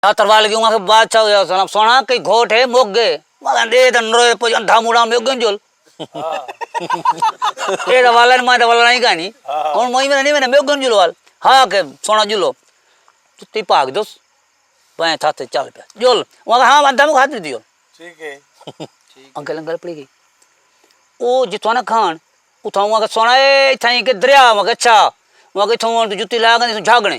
تربار لگی اوئاں بادشاہ ہویا سݨا سݨا کئی گھوٹ ہے مک ڳئے مالا ݙے تاں نروئے پڄ اندھا موݙا میو ڳن جول اے تاں والا ماں تاں والا نہیں کانی ہن مئی میں نہیں میں میو ڳن جول وال ہا کے سونا جلو تی پاک دوس بائیں تھا تے چل پیا جول اوئاں ہاں اندھا مو ہاتھ دیو ٹھیک ہے انکل انکل پڑی گئی او جتھوں نہ کھان اتھوں اوئاں سونا اے تھائیں کے دریا اوئاں اچھا اوئاں کے تھوں جتی لا گنے جھاگنے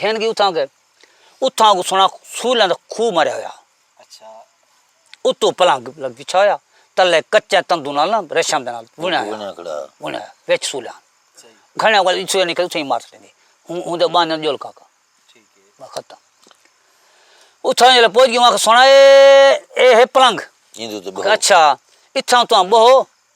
گھن گی اتھاں گئے اتھاں کو سنا سولاں دا کھو مریا ہویا اتو پلنگ لگ بچھا ہویا تلے کچے تندو نال نا ریشم دے نال بنیا ہویا بنیا وچ سولاں گھنے کو اتھے نکل اتھے مار سٹے ہوں دے بانیا جول کا کا ختم اتھاں جلے پوج گیا سنا اے اے ہے پلنگ اچھا اتھاں تو بہو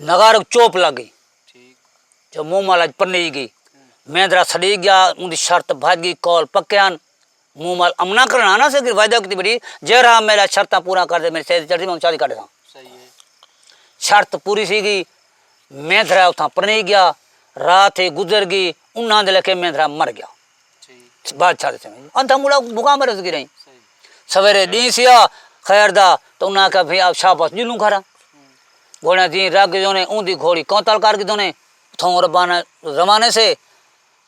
نغار کوں چوپ لگ گئی جو منہ مالا اچ پنی گئی مہندرا سڑی گیا اوندی شرط بھج گئی قول پکے ہن منہ مال امنا کرنا نا سے وعدہ کیتی بڑی جیڑھا میرا شرطاں پورا کر دے میری سیدھی چڑھ دی میں اونوں شادی کر ݙیساں شرط پوری تھی گئی مہندرا اتھاں پنی گیا رات تھی گزر گئی انہاں دے لیکھے مہندرا مر گیا بادشاہ دے سمجھ اندا مڑا بھوکا مرے گی رہی سویرے دی سیا خیر دا تو انہاں کہا بھئی آپ شاہ پاس جلوں کھڑا گھوڑا دی راگ گزوں نے اون دی گھوڑی کونتال کر گزوں نے تھوں ربانہ زمانے سے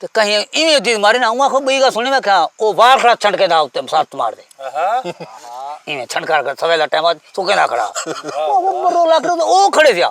تو کہیں ایویں دی مارے نا اون کو بئی گا سنی میں کہا او وار کھڑا چھنڈ کے دا اوتے ساتھ مار دے ایویں چھنڈ کر کر سویرے ٹائم تو کہنا کھڑا او مرو لاکھ او کھڑے دیا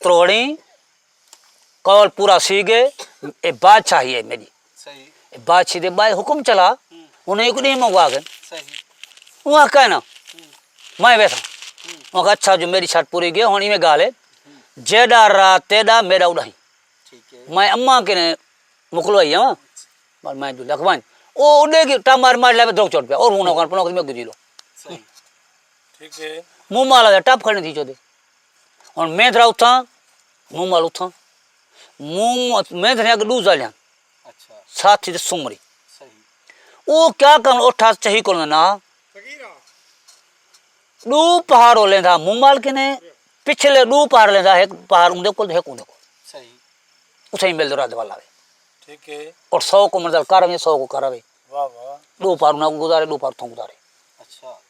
تروڑیں قول پورا سی گے اے بادشاہی اے میڈی بادشاہی دے بائے حکم چلا انہاں اک ڈینہہ منگوا گئے انہاں کہنا میں ویسا انہاں کہا اچھا جو میری شرط پوری گئے ہن ایویں گالے جیڈا را تیڈا میڈا اڈائی میں اماں کے نے مکلوائی ہاں پر میں جو لکھوائیں او اڈے گی ٹا مار مار لے دو چوٹ پیا اور ہوں نہ کون پنو کہ میں گجی لو منہ مالا دے ٹپ کھڑنے تھی چودے ہن مہندرا اتھاں مومل اتھاں مہندرے اگے ݙو ذالیاں ساتھی تے سمری او کیا کرن اٹھا چہی کول نہ ݙو پہاڑو لیندا مومل کنے پچھلے ݙو پہاڑ لیندا ایک پہاڑ اوندے کول ایک اوندے کول صحیح اتھے مل دو رد والا وے ٹھیک ہے اور سو کو منزل کر وے سو کو کر وے واہ واہ ݙو پہاڑ نہ گزارے ݙو پہاڑ تھوں گزارے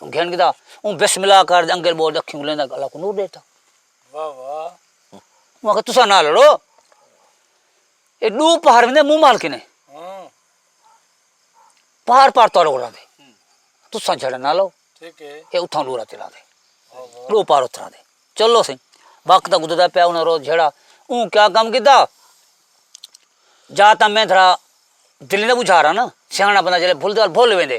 گھن گھدا اوں بسم اللہ کر دے انگل بول دے اکھیوں لیندا اللہ کو نور دیتا واہ واہ مگر تسا نہ لڑو اے دو پہر وندے منہ مال کنے ہاں۔ پہر پار تور اولا دے تسا جھڑا نہ لو ٹھیک ہے اے اتھاں لورا تلا دے دو پار اترا دے چلو سی وقت دا گزردا پیا انہاں روز جھڑا اوں کیا کم کیتا جا تا میں تھرا دل نہ بجھارا نا سیاںا بندہ جلے بھول دے بھول ویندے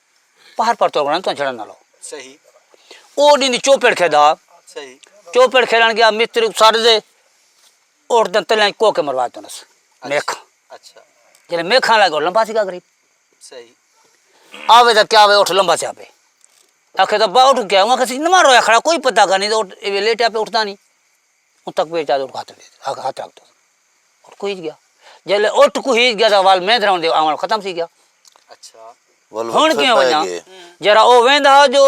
پہر پر توگنا تو جھڑن نہ لو صحیح او دین چوپڑ کھیدا صحیح چوپڑ کھیلن گیا مستری سر دے اور دن تلے کو کے مروا تو نس میک اچھا جڑے میک کھان لگا لمبا سی گری صحیح آوے دا کیا وے اٹھ لمبا سی آبے اکھے دا با اٹھ گیا وہاں کسی نہ رویا کھڑا کوئی پتہ کا نہیں تو اے لیٹ اپ اٹھدا نہیں اوں تک پیر چا تے ہتھ ہتھ رکھ تے اٹھ کوہیج گیا جیلے اٹھ کوہیج گیا تاں ول میں دھراؤن دے آون ختم تھی گیا اچھا ول ہن کیوں ونجا جرا او ویندا ہا جو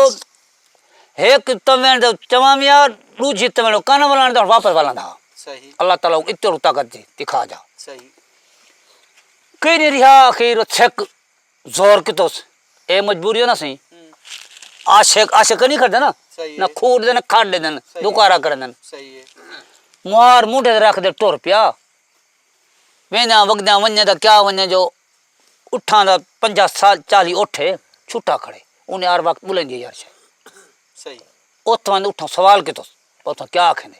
ہک تمن دے چواں میاں ڈو جی تمن کن ولان دا واپس ولان دا صحیح اللہ تعالی اتر طاقت دی دکھا جا صحیح کہیں نہیں رہا اخیر چھک زور کیتوس اے مجبوری نہ سئیں عاشق عاشق نی کھڑدے نا نہ کھوڑ دے نہ کھڑ دے دوکارا کر دن مار موڈے تے رکھ دے ٹر پیا ویندیاں وگدیاں ونجے دا کیا ونجے جو اٹھاں دا پنجا سال چالی اٹھ اے چھٹا کھڑے انہیں ہر وقت بلندی یار شے اتھاں اٹھاں سوال کیتوس اتھاں کیا آکھیں دے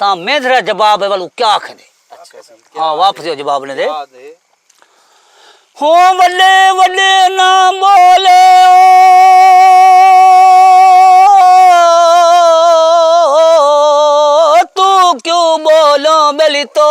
تاں میندرا جواب ہے ولو کیا کھدے ہاں واپس جو جواب نے دے ہوں ولے ولے نہ بولے تو کیوں بولو بلی تو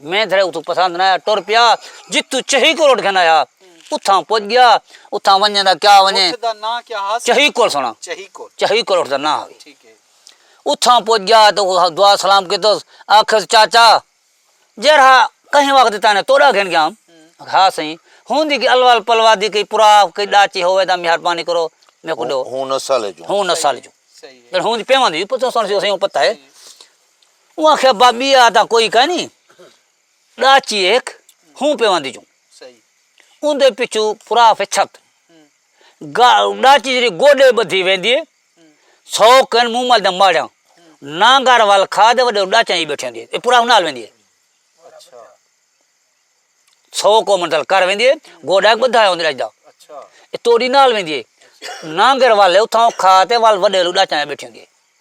میں تھڑے اتھوں پسند نہ آیا ٹر پیا جتھوں چہی کول اٹھ کھندا ہا اتھاں پج گیا اتھاں ونجے دا کیا ونجے اٹھ دا ناں کیا ہا چہی کول سنا چہی کول چہی کول اٹھ دا ناں ہوے ٹھیک ہے اتھاں پج گیا تو دعا سلام کیتو آکھس چاچا جیرھا کہیں وقت تاں نے توڑا گھن گیا ہا سہی ہن دی کہ الوال پلوا دی کہ پرا کہ ڈاچی ہوے دا مہربانی کرو میکو دو ہوں نسل جو ہوں نسل جو صحیح ہے ہن پیواں دی پتہ سن سی پتہ ہے اوں آکھیا با ٻیا تاں کوئی کائنی ݙاچی ہک ہوں پیواں دی چوں اوندے پچھوں پھرا پھر چھت گا ݙاچی جیڑھی گوݙے ٻدھی ویندی ہے سو کن موں مل دے ماڑیاں نانگر ول کھا دے وݙے ݙاچیاں ہی بیٹھی ہوندی ہے پھرا نال ویندی ہے سو کو منزل کر ویندی ہے گوݙا ٻدھا ہوندی رجدا توڑی نال ویندی ہے نانگر والے اتھاں کھا تے ول وݙے ݙاچیاں بیٹھی ہوندی ہے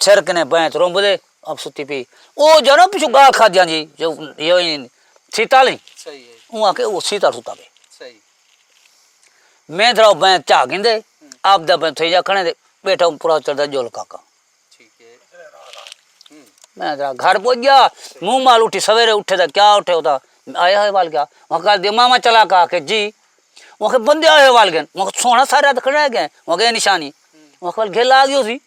سر کنیں بئیں تے رومبدے اب ستی پی او جانو پچھو گال کھادیاں جی جو یوئی سیتا لیں اون آکے او سیتا ستا پی میں دراو بئیں چاہ گندے اب دا بئیں تھے جا کھنے دے بیٹا اون پورا چڑھ دا جو لکا کا میں درا گھر پوچھ گیا مو مال اٹھی سویرے اٹھے دا کیا اٹھے ہوتا آیا ہے وال گیا وہاں کہا دے ماما چلا کہا کہ جی وہاں کہ بندے آئے وال گئے وہاں سونا سارے آدھ کھڑے گئے وہاں کہ نشانی وہاں کہ گھل آگی ہو سی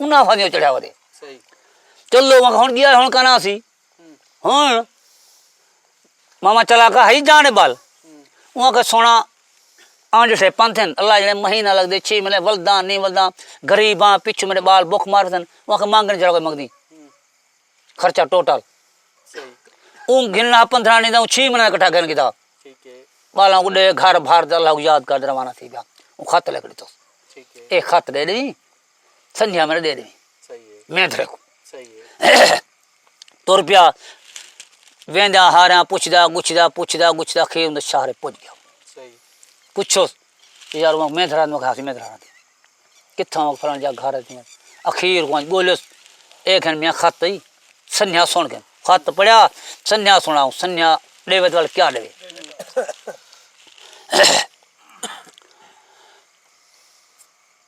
انہاں آفا دیو چڑھیا ودے چلو ہن گیا ہن کنا سی ہن ماما چلا کا ہی جانے بال انہاں کا سونا آن جسے پنتھن اللہ جڑے مہینہ لگ دے چھ ملے ولدان نہیں ولدان غریباں پچھ میرے بال بک مار دن انہاں کا مانگن جڑا کوئی مگدی خرچہ ٹوٹل اون گھننا پندرہ نہیں دا چھ مہینہ کٹھا گھن گدا بالاں کو دے گھر بھر دے اللہ کو یاد کر دے روانہ تھی گیا اون خط لکھ دیتو اے خط دے دی سنجھا میرا دے دے میں تھرے کو تر پیا ویندا ہارا پوچھدا گچھدا پوچھدا گچھدا کھے اون شہر پج گیا پوچھو یار وہ میں تھرا نو کھا میں تھرا دے کتھاں وہ فران جا گھر تے اخیر کو بولو اے کھن میں خط پئی سنجھا سن کے خط پڑھیا سنجھا سنا سنجھا دے وچ ول کیا دے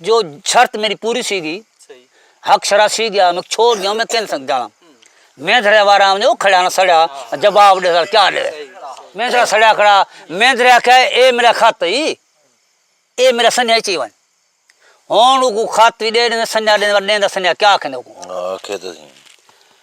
جو شرط میری پوری سی گی حق شرا سی گیا میں چھوڑ گیا میں کن سنگ جانا میں دریا وارا آمدے وہ کھڑا نہ سڑیا جواب دے سر کیا لے میں دریا سڑیا کھڑا میں دریا کہا اے میرا خط ہی اے میرا سنیا چی ون ہون کو خط بھی دے دے سنیا دے دے دا سنیا کیا کھنے کو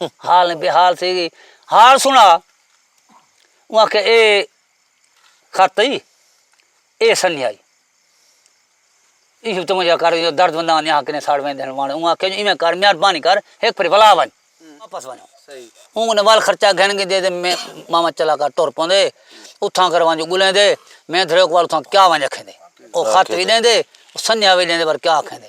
حال نی بحال تھی گئی حال سنا اوں آکھیا اے خط ای اے سنیہا ای ایشو توں مجھے کر جو درد بندہ نے حق نے ساڑ ویندے ہن وان اوں آکھیا جو ایویں کر مہربانی کر ایک پھر ولا ون واپس ون صحیح اوں نے وال خرچہ گھن کے دے دے میں ماما چلا کر ٹر پوندے اتھاں کر وان جو گلیں دے میں دھرے کو وال اتھاں کیا ون رکھیں دے او خط وی دیں دے سنیہا وی دیں دے پر کیا آکھیں دے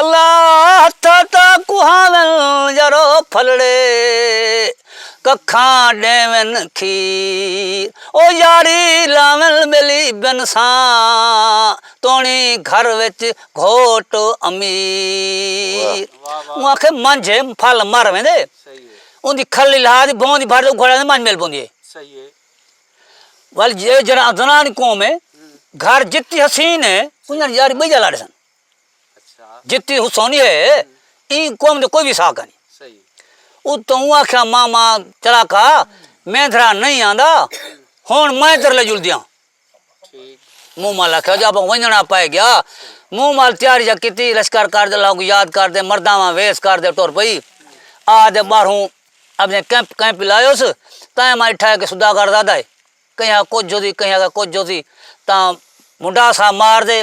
اللہ تھا تا کوہاون یارو پھلڑے ککھاں ڈیون کھیر او یاری لاون بیلی بنساں توڑی گھر وچ گھوٹ امیر اوں آکھے منجھ پھل مر ویندے اوں دی کھل الہا دی بھوں دی بھر اگھڑ ویندے منجھ مل پوندی ہے ول جے جنان قوم ہے گھر جتی حسین ہے انہاں دی یاری بئی جا لاڑے سن جتی حسونی ہے ایں قوم دا کوئی وی ساہ کائنی۔ اتوں اوں آکھیا ماما چڑاکا میندھرا نئیں آندا ہݨ میں تیݙے جلدیاں۔ مومل آکھیا جو آپاں ونڄݨا پئے ڳیا۔ مومل تیاریاں کیتی لشکر کر تے لوکاں کوں یاد کر تے مرداں واں ویس کر تے ٹر پئی۔ آ تے ٻاہروں اپݨے کیمپ کیمپ لائیس تئیں میں ݙٹھا کہ سوداگر زادہ ہے کہیں کجھ ہوسی کہیں کجھ ہوسی تاں منڈا سا مار ݙے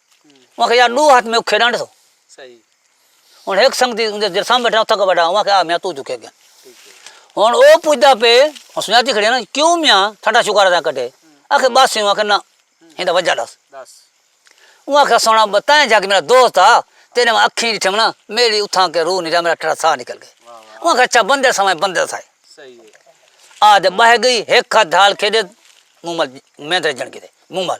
اوہاں آکھیا یار ݙو ہتھ میکوں کھیݙݨ ݙیسو ہݨ ہک سنڳتی جیݙے سامݨے ٻیٹھا اتھاں کوں ٻہا اوہاں آکھیا آ میاں توں جھکے ڳئیں ہݨ او پچھدا پئے سنڄاتی کھڑی ہے نا کیوں میاں تھاݙا شکر ہے تاں کݙھے آکھے ٻس اوہاں آکھیا نہ ایندا وجہ ݙس اوہاں آکھیا سݨا تیں جھڳ میݙا دوست ہا تیݙے میں اکھیں ݙٹھم نا میݙی اتھاں کے روح نکلا میݙا ٹھڑا ساہ نکل ڳئے اوہاں آکھیا اچھا بندے ساویں بندے دا ساہ آ تے ٻہہ ڳئی ہک ہتھ ڈھال کھیݙے موں مل مینترے ڄݨ کیتے موں مل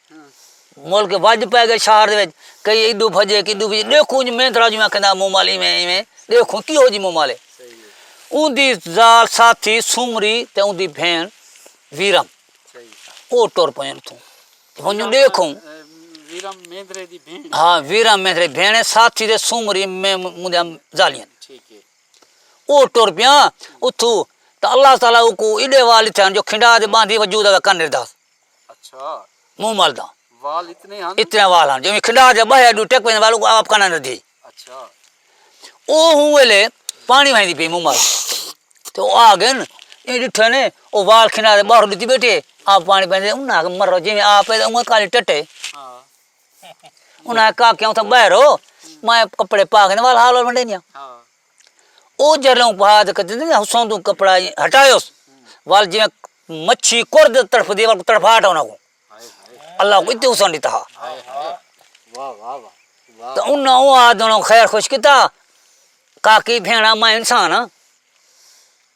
ملک وڄ پئے ڳئے شہر دے وچ کئی ایݙو بھڄے کئی ایݙو بھڄے ݙیکھوں اڄ میں ترا جویں آکھینداں موں مال ایویں ایویں ݙیکھوں کیہو جی موں مال ہے اوندی ذال ساتھی سومری تے اوندی بھیݨ ویرم او ٹر پئین اتھوں ونڄوں ݙیکھوں ویرم میندرے دی بھیݨ ہاں ویرم میندرے بھیݨ ساتھی تے سومری میں مودیاں ذالیاں ٹھیک ہے او ٹر پیاں اتھوں تے اللہ تعالی کو ایڈے وال تھے جو کھنڈا دے باندھی وجود دا کن ردا منہ ملدا اتنے وال ہن جویں کھڈا دے بہیا ڈو ٹک ویندے وال آپ کنا ندھی او ہوں ویلے پانی ویندی پی منہ مل تو آ گن اے ڈٹھے نے او وال کھنا دے باہر ڈتی بیٹھے آپ پانی پیندے انہاں کہ مرو جویں آپ پیدا اونویں کالے ٹٹے انہاں کا کیوں تھا بہرو میں کپڑے پا گن وال حال ونڈے نیاں او جھلوں بعد حسن توں کپڑا ہٹایوس ول جیویں مچھی کرد تڑفدی ہے تڑفاٹ انہاں کوں اللہ کوں اتنے حسن ݙتا ہا تے انہاں او آد انہاں کوں خیر خوش کیتا کاکی بھیݨا میں انسان ہاں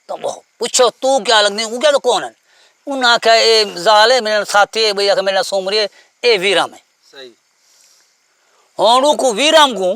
تو پچھو تو کیا لڳدی او کیا توں کون ہے انہاں آکھیا اے ذال ہے میݙا ساتھی ہے ٻئی آکھے میݙے نال سومری ہے اے ویرام ہے ہݨ اوکوں ویرام کوں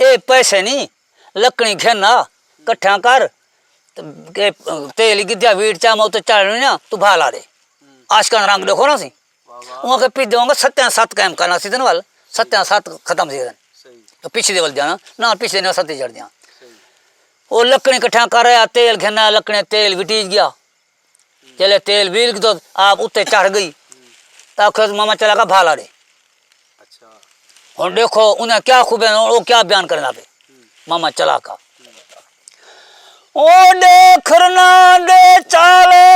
اے پیسے نی لکڑیں گھن آ کٹھیاں کر تے تیل ای گدھیا ویٹ چا ماں تے چاڑھنڑی نا تو بھا لا دے عاشقاں دا رنگ ڈیکھو نا تسیں اوہاں کہیں پچ دیواں گا ستیاں ست قائم کرنا سیزن ول ستیاں ست ختم سیزن تو پچ دے ول جانا نہ پچ دے نہ ستی چڑھ دیاں او لکڑیں کٹھیاں کر آیا تیل گھن آیا لکڑیں تیل وٹیج گیا جلے تیل ویل گدو آپ اتے چڑھ گئی تا کھے ماما چلا گا بھالا دے ہن دیکھو انہیں کیا خوبے ہیں وہ کیا بیان کرنا پہ ماما چلا کا او دیکھنا دے چالے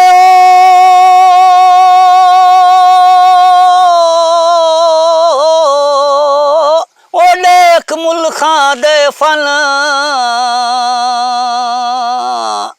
او دیکھ ملخان دے فن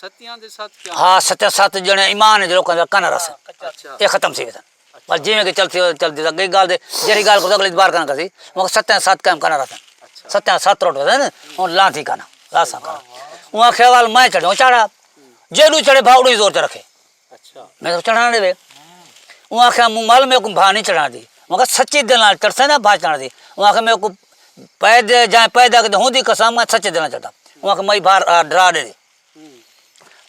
ستیاں دے ست کیا؟ ہا ستیاں ست جنے ایمان وچ لوکاں دا کنر ہسن اے ختم تھی ویسن پر جیویں کہ چلسی او چلدی دا گئی گال دے جیڑھی گال کو اگلی دوبارہ کنا کرسی مگر ستیاں ست کم کنر ہسن ستیاں ست روٹ ویسن ہن لا تھی کنا لا سا کنا اوں آکھیا وال میں چڑھوں چڑھا جیڑھو چڑھے بھاوڑو ہی زور تے رکھے میں توں چڑھاں ݙے وے اوں آکھیا موں مال میں کوں بھا نہیں چڑھاں دی اوں آکھیا سچی دل نال ترسے نہ بھا چڑھاں دی اوں آکھیا میں کوں پیدا جائیں پیدا کیتے ہوں دی قسم میں سچے دل نال چڑھاں اوں آکھیا مئی بھا ڈرا ݙے دی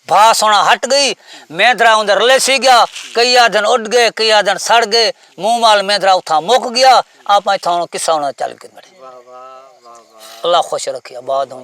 بھا سونا ہٹ گئی میں درا اون دے رلے سی گیا کئی آدھن اڈ گئے کئی آدھن سڑ گئے موں مال میں درا اتھاں مک گیا آپ اتھاں قصہ انہاں چل کے مڑے اللہ خوش رکھیا بعد ہوں